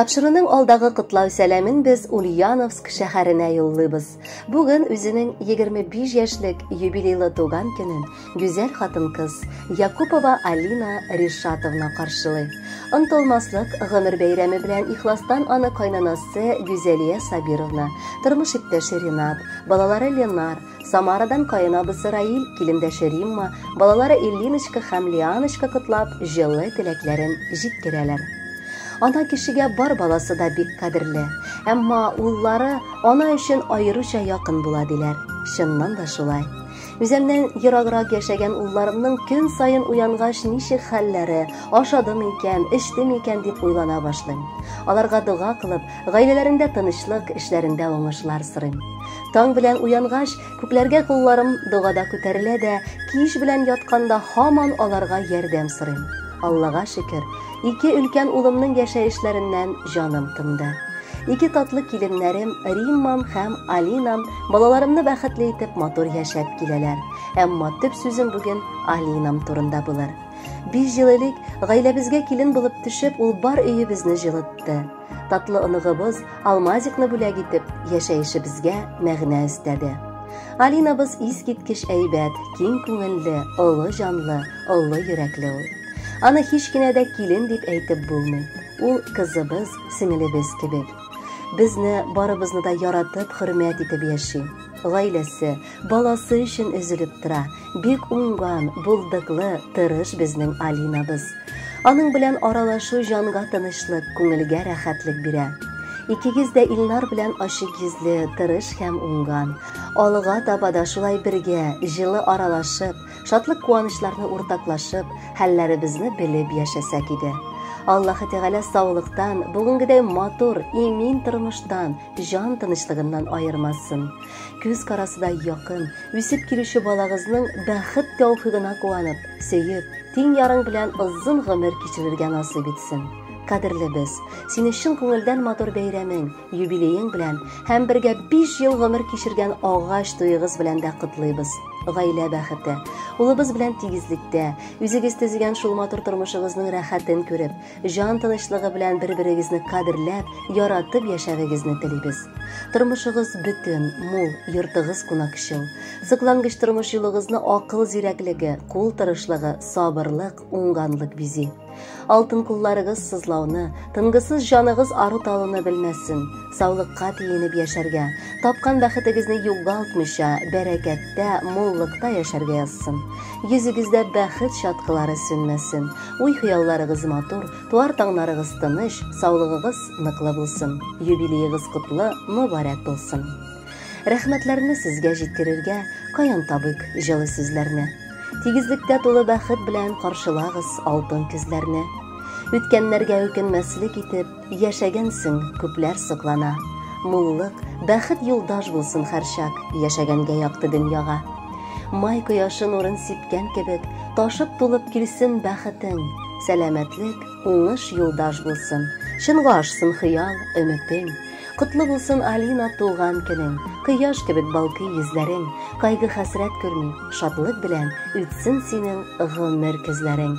Тапшыруның алдагы котлау сәламен без Ульяновск шәһәренә юллыйбыз. Бүген үзенең 25 яшьлек юбилейлы туган көнен Гүзәл хатын-кыз Якупова Алина Ришатовна каршылый. Онтылмаслык гомер бәйрәме белән ихластан аны кайнанасы Гүзәлия Сабировна, тормыш иптәше Ринат, балалары Ленар, Самарадан каенабысы Раил, килендәше Римма, балалары Ильиночка һәм Лианочка котлап, җылы теләкләрен җиткерәләр. Ана кешегә бар баласы да бик кадерле, әмма уллары ана өчен аеруча якын була диләр. Чыннан да шулай. Үземнән ераграк яшәгән улларымның көн саен уянгач ничек хәлләре, ашадым икән, эчтем икән дип уйлана башлыйм. Аларга дога кылып, гаиләләрендә тынычлык, эшләрендә уңышлар сорыйм. Таң белән уянгач, күкләргә кулларым догада күтәрелә дә, кич белән ятканда һаман аларга ярдәм сорыйм. Аллага шөкер, Ике өлкән улымның яшәешләреннән җаным тынды. Ике татлы киленнәрем Риммам һәм Алинам балаларымны бәхетле итеп матур яшәп киләләр. Әмма төп сүзем бүген Алинам турында булыр. Биш ел элек гаиләбезгә килен булып төшеп, ул бар өебезне җылытты. Татлы оныгыбыз Алмазикны бүләк итеп, яшәешебезгә мәгънә өстәде. Алинабыз искиткеч әйбәт, киң күңелле, олы җанлы, олы йөрәкле ул. Аны һич кенә дә килен дип әйтеп булмый. Ул кызыбыз, сеңелебез кебек. Безне барыбызны да яратып, хөрмәт итеп яши. Гаиләсе, Баласы өчен өзелеп тора. Бик уңган, булдыклы, тырыш безнең Алинабыз. Аның белән аралашу җанга тынычлык, күңелгә рәхәтлек бирә. Икегез дә Илнар белән ачык йөзле, тырыш һәм уңган. Алга таба да шулай бергә, җылы аралашып, шатлык-куанычларны уртаклашып, хәлләребезне белеп яшәсәк иде. Аллаһы Тәгалә саулыктан, бүгенгедәй матур, имин тормыштан, җан тынычлыгыннан аермасын. Күз карасы да якын, үсеп килүче балагызның бәхет тәүфигына куанып, сөеп, тиң ярың белән озын гомер кичерергә насыйп итсен. Кадерле без, сине чын күңелдән матур бәйрәмең, юбилеең белән һәм бергә 5 ел гомер кичергән агач туегыз белән дә котлыйбыз. Гаилә бәхете, улыбыз белән тигезлектә, үзегез төзегән шул матур тормышыгызның рәхәтен күреп, Җан тынычлыгы белән бер-берегезне кадерләп, яратып яшәвегезне телибез. Тормышыгыз бөтен, мул, йортыгыз кунакчыл. Соклангыч тормыш юлыгызны акыл зирәклеге, кул тырышлыгы, сабырлык, уңганлык бизи. Алтын кулларыгыз сызлауны, тынгысыз җаныгыз ару талуны белмәсен. Саулыкка тиенеп яшәргә, тапкан бәхетегезне югалтмыйча, бәрәкәттә, муллыкта яшәргә язсын. Йөзегездә бәхет чаткылары сүнмәсен, уй-хыялларыгыз матур, туар таңнарыгыз тыныч, саулыгыгыз ныклы булсын, юбилеегыз котлы, мөбарәк булсын. Рәхмәтләрне сезгә җиткерергә каян табыйк җылы сүзләрне? Тигезлектә тулы бәхет белән каршылагыз алтын көзләрне. Үткәннәргә үкенмәслек итеп, Яшәгәнсең, күпләр соклана. Муллык, бәхет юлдаш булсын һәрчак, яшәгәнгә якты дөньяга. Май кояшы нурын сипкән кебек, ташып тулып килсен бәхетең. Сәламәтлек, уңыш юлдаш булсын. Чынга ашсын хыял, өметең. Котлы булсын Алина туган көнең. Кояш кебек балкый йөзләрең. Кайгы-хәсрәт күрми, шатлык белән үтсен синең гомер көзләрең.